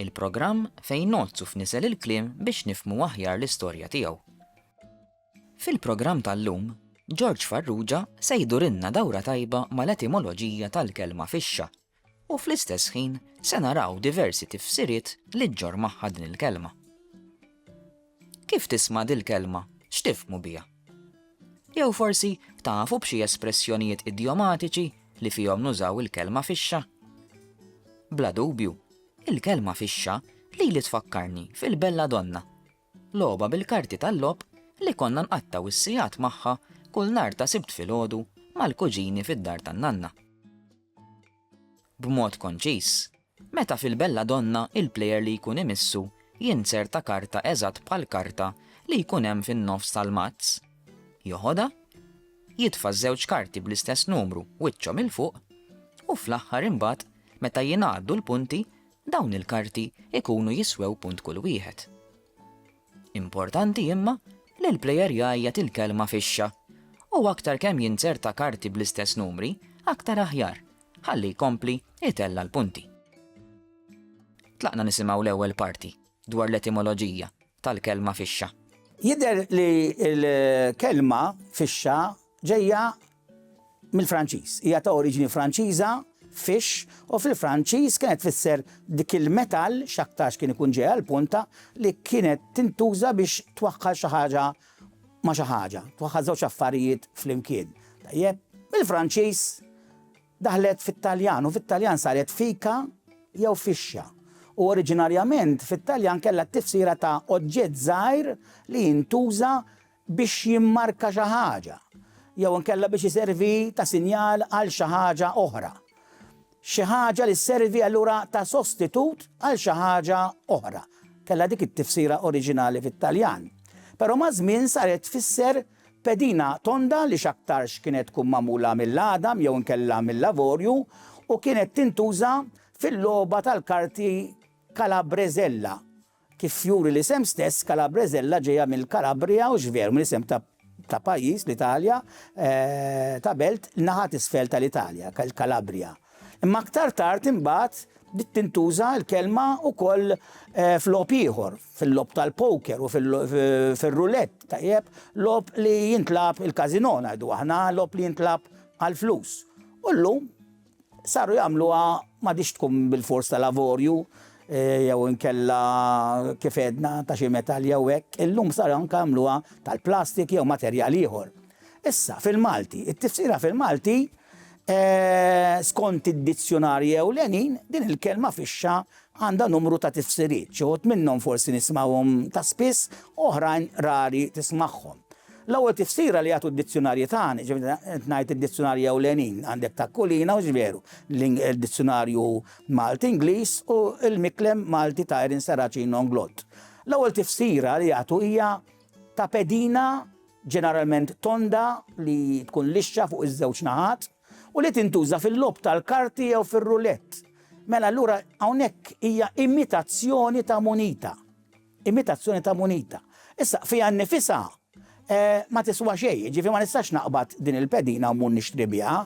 Il-programm fejn ngħoddsu f'nisel il-kliem biex nifhmu aħjar l-istorja tiegħu. Fil-programm tal-lum, George Farrugia se jdurilna dawra tajba mal-etimoloġija tal-kelma fixxa u fl-istess ħin se naraw diversi tifsiriet li ġġorr magħha din il-kelma. Kif tisma' dil-kelma, x'tifhmu biha? Jew forsi tafu b'xi espressjonijiet idjomatiċi li fihom nużaw il-kelma fixxa? Bla dubju, il-kelma fixxa lili tfakkarni fil-Bella Donna, logħba bil-karti tal-logħob li konna nqattgħu s-sigħat magħha kull nhar ta' Sibt filgħodu mal-kuġini fid-dar tan-nanna. B'mod konċiż, Meta fil-belladonna il-plejer li jkun imissu jinzerta karta eżatt bħall-karta li jkun hemm fin-nofs tal-mazz, joħodha, jitfa' ż-żewġ karti bl-istess numru wiċċhom 'il fuq u fl-aħħar imbagħad meta jingħaddu l-punti dawn il-karti jkunu jiswew punt kull wieħed. Importanti imma li l-plejer jgħajjat il-kelma fixxa u aktar kemm jinzerta karti bl-istess numri aktar aħjar Ħalli jkompli jtella' l-punti. Tlaqna nisimgħu l-ewwel parti dwar l-etimoloġija tal-kelma fixxa. Jidher li l-kelma fixxa ġejja mill-Franċiż. Hija ta' oriġini Franċiża, fiche, u fil-Franċiż kienet tfisser dik il-metall, x'aktarx kien ikun ġej għall-punta, li kienet tintuża biex twaħħal xi ħaġa ma' xi ħaġa, twaħħal żewġ affarijiet flimkien. Tajjeb? Mill-Franċiż daħlet fit-Taljan u fit-Taljan saret fika jew fixxa. U oriġinarjament fit-Taljan kellha t-tifsira ta' oġġett żgħir li jintuża biex jimmarka xi ħaġa jew inkella biex iservi ta' sinjal għal xi ħaġa oħra. Xi ħaġa li sservi allura ta' sostitut għal xi ħaġa oħra, kellha dik it-tifsira oriġinali fit-Taljan. Però maż-żmien saret tfisser pedina tonda li x'aktarx kienet tkun magħmula mill-għadam jew inkella mill-avorju u kienet tintuża fil-logħba tal-karti Calabrezella Kif juri l-isem stess, Calabrezella ġejja mill-Kalabria u x'veru mill-isem ta' ta' pajjiż, l-Italja, ta' belt naħa t'isfel tal-Italja, il-Kalabria. Imma aktar tard imbagħad bdiet tintuża l-kelma wkoll f'logħob ieħor, fil-logħob tal-poker u fir-rulett, tajjeb, logħob li jintlagħab il-casino ngħidu aħna, logħob li jintlagħab għall-flus. U llum Saru jagħmluha m'għadhiex tkun bilfors tal-avorju jew inkella kif għedna ta' xi metall jew hekk, illum saru anke jagħmluha tal-plastik jew materjal ieħor. Issa, fil-Malti, it-tifsira fil-Malti, eh, skont id-dizzjunarji ewlenin, din il-kelma fixxa Għandha numru ta' tifsiriet, xi wħud minnhom forsi nismgħuhom ta' spiss, oħrajn rari tismagħhom. L-ewwel tifsira li jagħtu d-dizzjunarji tagħna, jiġifieri qed ngħid id-dizzjunarji ewlenin, għandek ta' Kulina u X'Veru, l-Dizzjunarju Malti-Ingliż u l-Miklem Malti ta' Erin Serracino Inglott. L-ewwel tifsira li jagħtu hija ta' pedina ġeneralment tonda li tkun lixxa fuq iż-żewġ naħat, u li tintuża fil-logħob tal-karti jew fir-roulette, mela allura hawnhekk hija imitazzjoni ta' munita. Imitazzjoni ta' munita. Issa, fiha nnifisha ma tiswa xejn, jiġifieri ma nistax naqbad din il-pedina u mmur nixtri biha,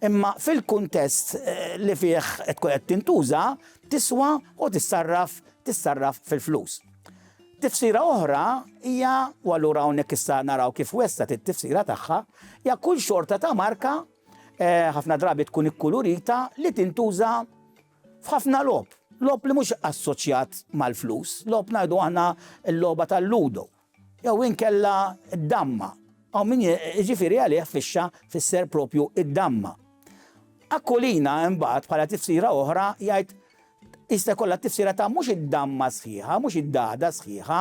imma fil-kuntest li fih tkun qed tintuża tiswa u tissarraf tissarraf fil-flus. Tifsira oħra hija, u allura hawnhekk issa naraw kif wessat it-tifsira tagħha, hija kull xorta ta' marka eh, ħafna drabi tkun ikkulurita li tintuża f'ħafna lob. Lob li mhux assoċjat mal-flus, lob ngħidu aħna l-logħba tal-ludo, jew inkella d-damma. Aw min ġifieri għalih fixxa fisser propju id-damma. Akkolina imbagħad bħala tifsira oħra jgħid Iżda jkollha t-tifsira ta' mhux id-damma sħiħa, mhux id-dagħda sħiħa,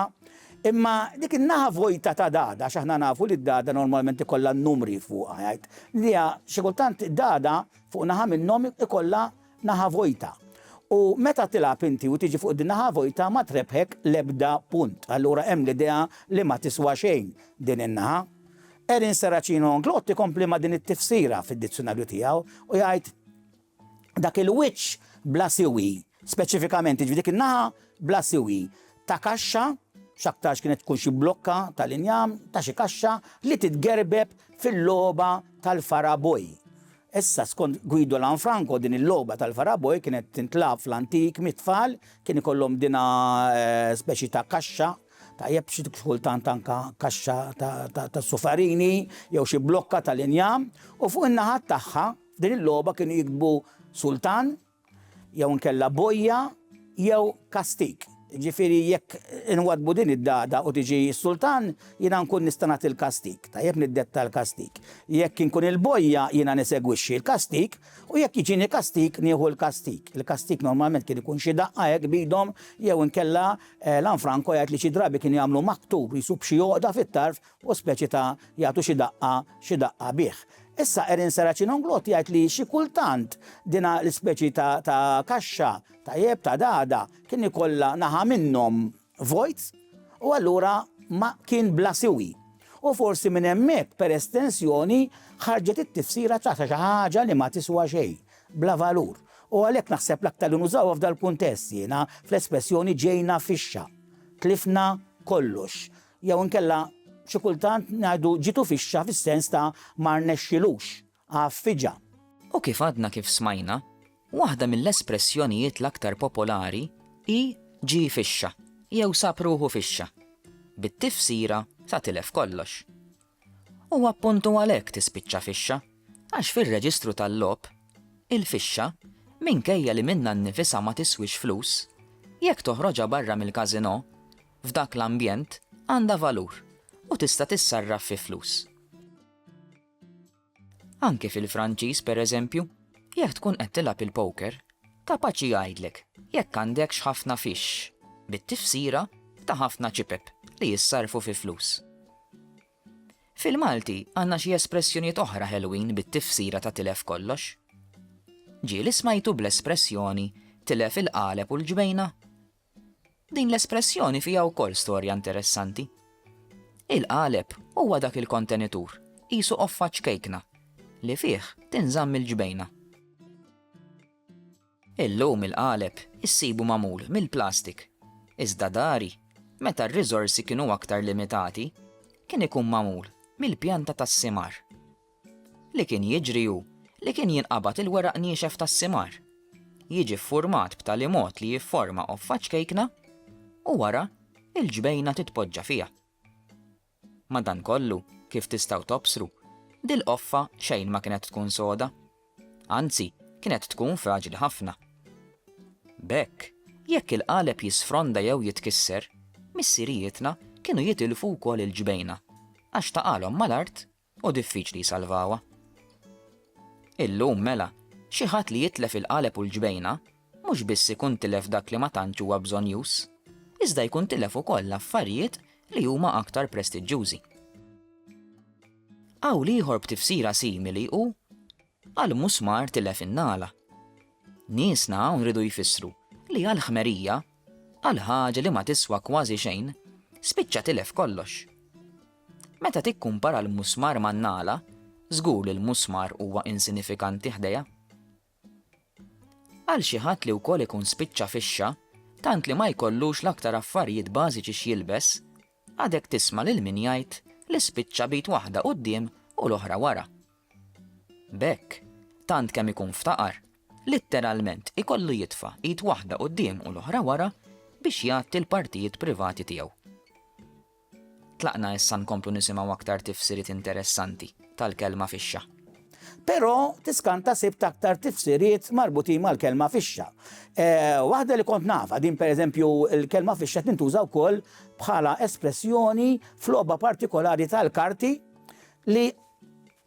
imma dik in-naħa vojta ta' dagħda, għax aħna nafu li d-dagħda normalment ikollha n-numri fuqha, jgħid li hija xi kultant dagħda fuq naħa minnhom ikollha naħa vojta. U meta tilgħab inti u tiġi fuq din naħa vojta ma trebbħek l-ebda punt. Allura hemm l-idea li ma tiswa xejn din in-naħa. Erin Serracino Anglot ikompli ma' din it-tifsira fid-dizzjunarju tiegħu u jgħid, dak il-wiċċ bla siwi, speċifikament, jiġifieri dik in-naħa bla siwi ta' kaxxa, x'aktarx kienet tkun xi blokka tal-injam ta' xi kaxxa li titgerbeb fil-logħba tal-faraboi. Issa, skont Guido Lanfranco, din il-logħba tal-faraboi kienet tintlagħab fl-antik mit-tfal, kien ikollhom dinha speċi ta' kaxxa, tajjeb xi kultant anke kaxxa tas-sufarini jew xi blokka tal-injam, u fuq in-naħat tagħha, F'din il-logħba kienu jiktbu Sultan jew inkella Bojja jew Kastik. Jiġifieri jekk inwaddbu din id-dagħda u tiġi s-Sultan, jiena nkun nista' nagħti l-kastik. Tajjeb niddetta l-kastik. Jekk inkun il-Bojja jiena nisegwixxi l-kastik u jekk jiġini kastik nieħu l-kastik. Il-kastik normalment kien ikun xi daqqa hekk b'idhom jew inkella Lanfranco jgħid li xi drabi kienu jagħmlu maktub qisu b'xi għoqda fit-tarf u speċi ta' jagħtu xi daqqa xi daqqa bih. Issa Erin Serracin Onglotti jgħid li xi kultant dina l-ispeċi ta' ta' kaxxa ta' jeb ta' dagħda kien ikollha naħa minnhom vojt u allura ma kien bla siwi. U forsi minn hemmhekk per estensjoni ħarġet it-tifsira ta' xi ħaġa li ma tiswa xejn, bla valur. U għalhekk naħseb l-aktar li nużawha f'dal-kuntest jiena fl-espressjoni ġejna fixxa. Tlifna kollox. Jew inkella xi kultant ngħidu ġietu fixxa fis-sens ta' ma rnexxilux, għaffiġa. U kif għadna kif smajna, waħda mill-espressjonijiet l-aktar popolari hi ġie fixxa jew sab ruħu fixxa, bit-tifsira ta' tilef kollox. u appuntu għalhekk tispiċċa fixxa, għax fir-reġistru tal-logħob, il-fixxa, minkejja li minnha nnifisha ma tiswix flus, jekk toħroġha barra mill-każinò, f'dak l-ambjent għandha valur u tista' tissarraf fi flus. Anke fil-Franċiż, pereżempju, jekk tkun qed tilgħab il-poker, kapaċi jgħidlek jekk għandekx ħafna fixx, bit-tifsira ta' ħafna ċipep li jissarrfu fi flus. Fil-Malti għandna xi espressjonijiet oħra ħelwin bit-tifsira ta' tilef kollox. Ġieli smajtu bl-espressjoni tilef il-qaleb u l-ġbejna? Din l-espressjoni fiha wkoll storja interessanti. Il-qaleb huwa dak il-kontenitur, qisu qoffa ċkejkna, li fih tinżamm il-ġbejna. Illum il-qaleb issibu magħmul mill-plastik, iżda dari, meta r-riżorsi kienu aktar limitati, kien ikun magħmul mill-pjanta tas-simar. Li kien jiġri hu li kien jinqabad il-weraq niexef tas-simar, jiġi ffurmat b'tali mod li jifforma qoffa ċkejkna u wara l-ġbejna titpoġġa fiha. Madankollu, kif tistgħu tobsru, dil-qoffa xejn ma kienet tkun soda. Anzi, kienet tkun fraġli ħafna. B'hekk, jekk il-qaleb jisfronda jew jitkisser, missirijietna kienu jitilfu wkoll il-ġbejna għax taqagħlhom mal-art u diffiċli jsalvawha. Illum, mela, xi ħadd li jitlef il-qaleb u l-ġbejna mhux biss ikun tilef dak li ma tantx huwa bżonnjuż, iżda jkun tilef ukoll affarijiet li huma aktar prestiġġjużi. Qawl ieħor b'tifsira simili hu Għal musmar tilef in-nagħla. Niesna hawn riedu jfissru li għal ħmerija, għal ħaġa li ma tiswa kważi xejn, spiċċa tilef kollox. Meta tikkumpara l-musmar man-nagħla, żgur li l-musmar huwa insinifikanti ħdejha. Għal xi ħadd li wkoll ikun spiċċa fixxa, tant li ma jkollux l-aktar affarijiet bażiċi x'jilbes, Għadek tisma' lil min jgħid li spiċċa b'id waħda quddiem u l-oħra wara. B'hekk, tant kemm ikun ftaqar, litteralment ikollu jitfa' id waħda quddiem u l-oħra wara biex jgħatti l-partijiet privati tiegħu. Tlaqna issa nkomplu nisimgħu aktar tifsiriet interessanti tal-kelma fixxa. Però tiskanta sibt aktar tifsiriet marbutin mal-kelma fixxa. Eh, waħda li kont nafa, din pereżempju l-kelma fixxa tintuża wkoll bħala espressjoni f'logħba partikolari tal-karti li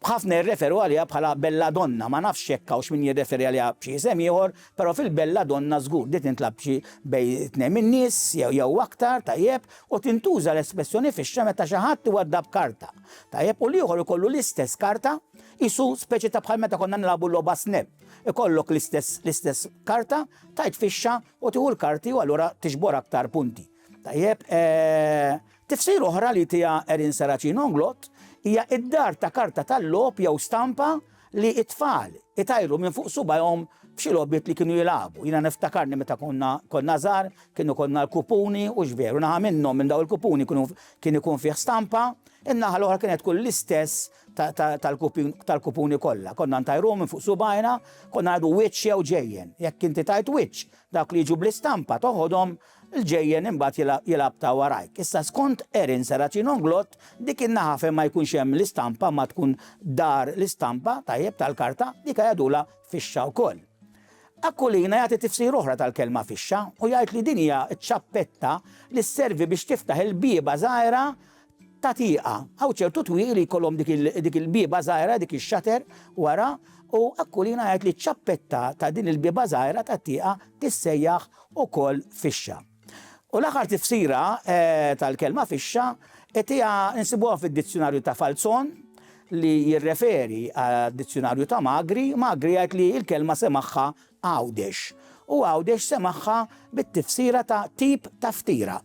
ħafna jirreferu għalija bħala bella donna, ma nafx jekk hawnx min jirreferi għalija b'xi isem ieħor, però fil-bella donna żgur di tintlab xi bej tnejn min-nies jew jew aktar tajjeb u tintuża l-espressjoni fixxa meta xi ħadd iwaddab karta. Tajjeb, u l-ieħor ikollu l-istess karta, qisu speċi ta' bħal meta konna nilagħbu l-logħba snap. Ikollok l-istess l-istess karta, tajt fixxa u tieħu l-karti u allura tiġbor aktar punti. Tajjeb, eh, tifsir oħra li tiha Erin Saracino Nglott hija id-dar ta' karta tal-logħob jew stampa li t-tfal itajru minn fuq subajhom f'xi logħbiet li kienu jilagħbu. Jiena niftakarni meta konna konna żgħar, kien ikollna l-kupuni u x'veru naħa minnhom minn daw il-kupuni kienu kien ikun fih stampa, in-naħa l-oħra kienet tkun l-istess tal-kupuni kollha. Konna ntajruhom minn fuq subajna, konna ngħidu wiċċ jew ġejjen. Jekk inti tajt wiċċ, dawk li jiġu bl-istampa toħodhom l-ġejjen imbagħad jilgħab ta' warajk. Issa skont Erin Serracino Nglott, dik in-naħa fejn ma jkunx hemm l-istampa ma tkun dar l-istampa, tajjeb, tal-karta, dika jgħidulha fixxa wkoll. Aquilina jagħti tifsira oħra tal-kelma fixxa u jgħid li din hija ċ-ċappetta li sservi biex tiftaħ il-bieba żgħira ta' tieqa. Hawn ċertu twieqi li jkollhom dik il-bieba żgħira, dik ix-shutter wara, u Aquilina jgħid li ċ-ċappetta ta' din il-bieba żgħira tat-tieqa tissejjaħ ukoll fixxa. U l-aħħar tifsira tal-kelma fixxa tiegħha nsibuha fid-Dizzjunarju ta' Falzon li jirreferi għad-Dizzjunarju ta' Magri, Magri jgħid li l-kelma semagħha Għawdex. U Għawdex semagħha bit-tifsira ta' tip ta' ftira.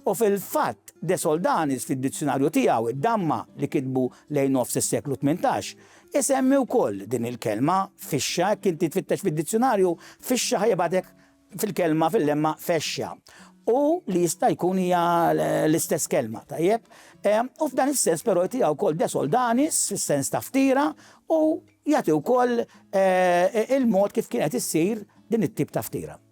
U fil-fatt, De Soldanis fid-dizzjunarju tiegħu id-Damma li kitbu lejn nofs is-seklu tmintax, isemmi wkoll din il-kelma, fixxa, jekk inti tfittex fid-dizzjunarju, fixxa ħa jibgħatek fil-kelma, fil-lemma fexxa. U li jista' jkun hija l-istess kelma, tajjeb? U f'dan is-sens però jtiha wkoll De Soldanis fis-sens ta' ftira u jagħti wkoll il-mod kif kienet issir din it-tip ta' ftira.